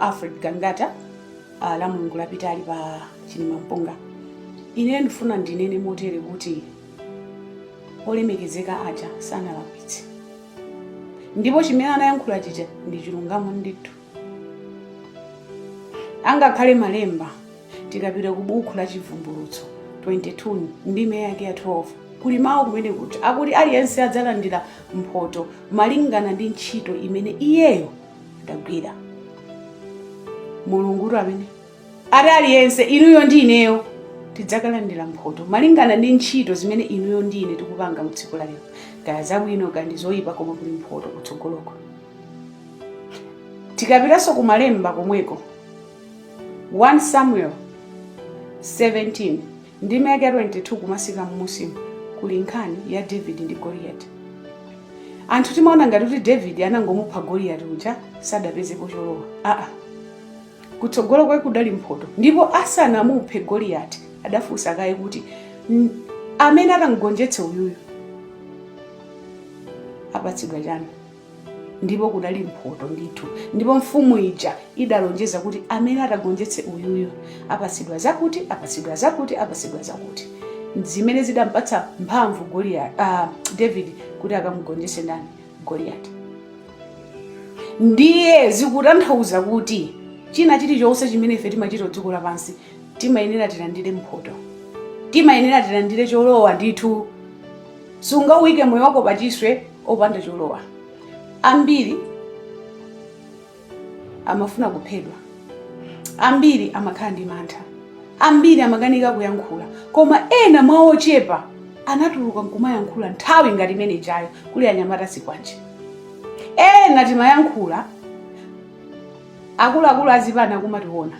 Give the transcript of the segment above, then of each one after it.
alfred gangata uh, la mulungu lapitali pa chilimampunga, ine ndifuna ndinene motere kuti olemekezeka aja sanalakwitse ndipo chimene anayankhula chija ndi chilungamo ndithu angakhale malemba tikapita ku buku la chivumbulutso 22 ndime yake ya 12 kuli mawu kumeneko oti akuti aliyense adzalandira mphoto malingana ndi ntchito imene iyeyo adagwira mulungutu ameneyo ati aliyense inuyo ndi ineyo tidzakalandira mphoto malingana ndi ntchito zimene inuyo ndi ine tikupanga mu tsiku la lero kaya zabwino kaya ndi zoyipa koma kuli mphoto kutsogoloko tikapitanso ku malemba komweko 1 samuel 17 Ndime yake ya 22 kumatsika mmusimu kuli nkhani ya David ndi Goliati. Anthu timaona ngati kuti David anangomupha Goliati uja osadapezepo cholowa. Aa, kutsogolo kwake kudali mphoto, ndipo asanamuphe Goliati adafunsa kaye kuti "N- amene atamgonjetse uyuyu apatsidwa chani. ndipo kunali mphoto ndithu ndipo mfumu ija idalonjeza kuti amene atagonjetse uyuyu apatsidwa zakuti apatsidwa zakuti apatsidwa zakuti zimene zidampatsa mphamvu Goliath, uh, david kuti akamugonjetse ndani goliyati ndiye zikutanthauza kuti china chilichonse chimene ife timachita pa dziko lapansi timayenera tilandire mphoto timayenera tilandire cholowa ndithu Sungauike moyo wako pachiswe opanda cholowa. Ambiri amafunidwa kuphedwa, ambiri amakhala ndi mantha, ambiri amakanika kuyankhula, koma ena mwa ochepa anatuluka nkumayankhula nthawi ngati imene ijayo kuli anyamata azikwanje. Ena timayankhula akuluakulu azipani akumationa.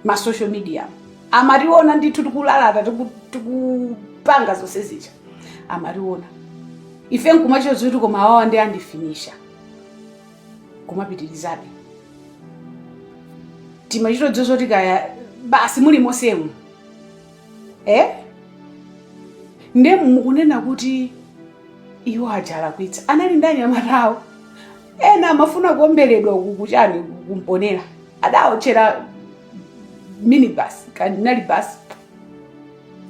ma social media amationa ndithu tikulalata tiku- tikupanga zonse zija amationa ife nkumachita zoti komatu awawa ndi andifinisha kumapitirizabe timachita zoti kaya basi muli mosemu eh? nde mukunena kuti iwo aja alakwitsa anali ndi anyamata awo ena amafuna kuomberedwa uku kuchani ku mponela adaotchera minibus kanali basi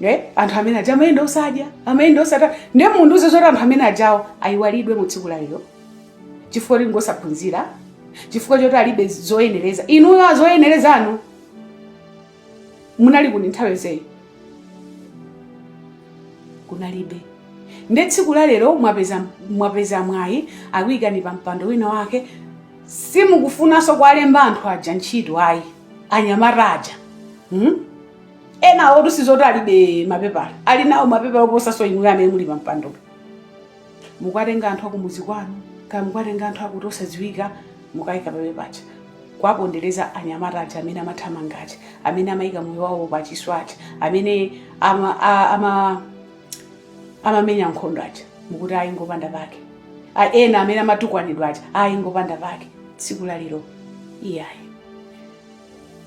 eh? anthu amene aja amayenda osadya amayenda osata nde mundiuze zoti anthu amene ajawo ayiwalidwe mu tsiku la lero chifukwa kuti ngosaphunzira chifukwa choti alibe zoyenereza inuyo azoyenerezanu munali kuti? nthawi yonseyi kunalibe nde tsiku la lero mwapeza mwapeza mwayi akuyikani pa mpando wina wake simukufunanso kuwalemba anthu aja ntchito ayi anyamata aja hmm? enawo tusizoti alibe mapepala ali nawo mapepala oposaso inuyo amene muli pa mpandopo mukuwatenga anthu akumuzi kwanu kaya mukuwatenga anthu akuti osadziwika mukaika pampando paja kuwapondereza anyamata aja amene amathamanga aja amene amaika moyo wawo pachiswe aja amene ama, a- ama, amamenya nkhondo aja mukuti ayi ngopanda pake A- ena amene amatukwanidwa aja ayi ngopanda pake tsiku la lero iyayi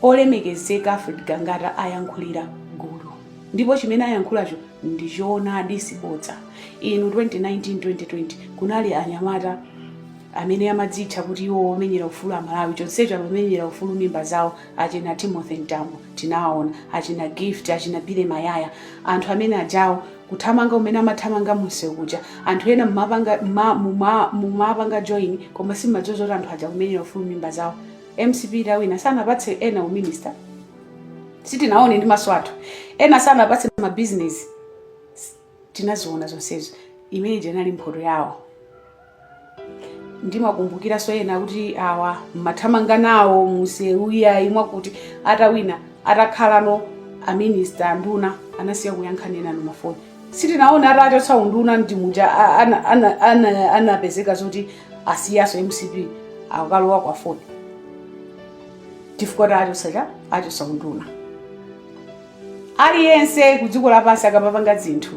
Olemekezeka Alfred Gangata ayankhulira gulu ndipo chimene ayankhulacho ndi choonadi sibodza inu 2019 2020 kunali anyamata amene amadzitcha kuti iwo omenyera ufulu amalawi chonsecho amamenyera ufulu m'mimba zawo achina timothy mtambo tinawaona, achina gift achina billy mayaya anthu amene ajawo kuthamanga kumene amathamanga munsewu muja anthu ena mumapanga muma- muma- mumapanga join koma simmadziwa zoti anthu aja kumenyera ufulu mimba zawo mcp itawina sanapatse ena u minister sitinaone ndi maso athu ena sanapatse ma business tinaziona zonsezo imene ija inali mphoto yawo ndimakumbukiranso ena kuti awa mmathamanga nawo munsewu iyayi mwakuti atawina atakhala aminista anduna anasiya kuyankha enanu mafoni sitinaona atawachotsa unduna ndi muja a- ana- ana- ana- anapezeka zoti asiyanso mcp akalowa ku aford chifukwa cha achotsa cha achotsa unduna aliyense ku dziko lapansi akamapanga zinthu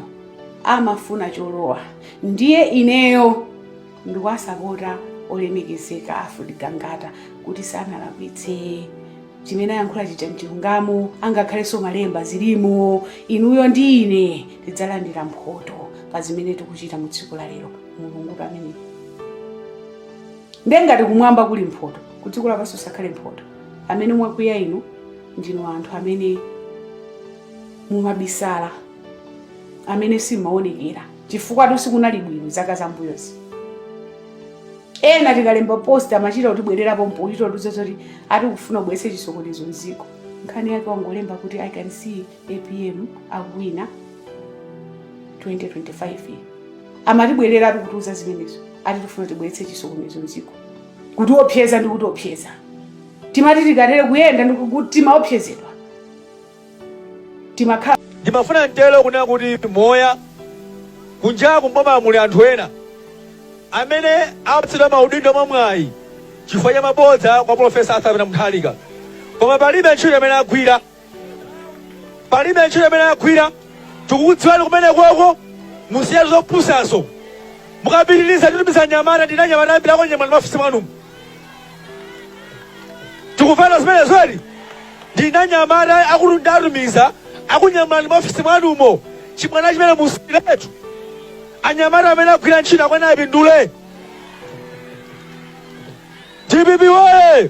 amafuna cholowa ndiye ineyo ndikuwasapota olemekezeka alfred gangata kuti sanalakwitse chimene ayankhula chija mchilungamo angakhalenso malemba zilimo inuyo ndi ine tidzalandira mphoto pa zimene tikuchita mu tsiku la lero mulungu amene ndiye ngati kumwamba kuli mphoto kudziko lapansi kusakhale mphoto amene mwakwiya inu ndinu anthu amene mumabisala amene simmaonekera chifukwatu sikunali bwino zaka zam'mbuyozi ena tikalemba post amachita kutibwerera pompo kuchita kutiuza zoti ati tikufuna kubweretsa chisokonezo mdziko nkhani yake wangolemba kuti i can see apm akuwina 2025 amatibwereratu kutiuza zimenezo ati tifuna tibweretse chisokonezo mdziko kutiopseza ndi kutiopseza timati tikatere kuyenda ndi ku- timaopsezedwa timakhala ndi mantha kunena kuti moyo kunjaku mboma muli anthu ena amene apatsidwa maudindo mwamwayi chifukwa cha mabodza kwa profesa arthur peter mutharika koma palibe ntchito imene agwira palibe ntchito imene agwira tikukudziwani kumeneko musiye zopusazo mukapitiliza titumiza anyamata ndili ndi anyamata ambiri akunyamulani m'maofesi mwanumo tikufuna zimenezo ndili ndi anyamata akuti nditumiza akunyamulani m'maofesi mwanumo chibwana chimenecho musiyiretu anyamata amene agwira ntchito akwane apindule dpp woye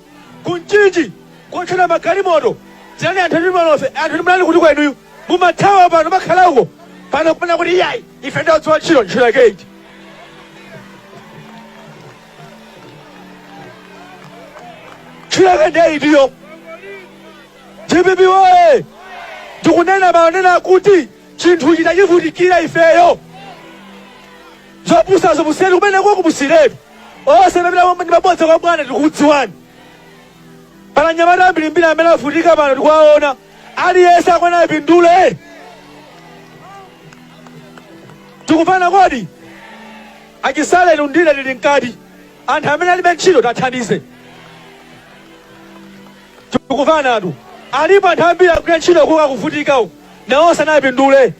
ku mchinji kotchera magalimoto dziwani anthu ndi malofa anthu ndi mlani kuti inuyo mumathawa pano mwakhala uko pano kunena kuti iyayi ife ndi odziwa ntchito ntchito yake iti ntchito yake ndiye itiyo dpp woye tikunena monena kuti chinthu tinachivutikira ifeyo Zopusazo musiyiretu kumeneko musiyiretu. Onse amene amapita ndi mabodza kwa bwana tikukudziwani. Pali anyamata ambirimbiri amene avutika pano tikuwaona. Aliyense akwana apindule. Tikumvana kodi? Achisale lundile lili mkati. Anthu amene alibe ntchito tiwathandize. Tikumvana etu. Alipo anthu ambiri akugwira ntchito kuka kuvutika uku. Nawonso apindule.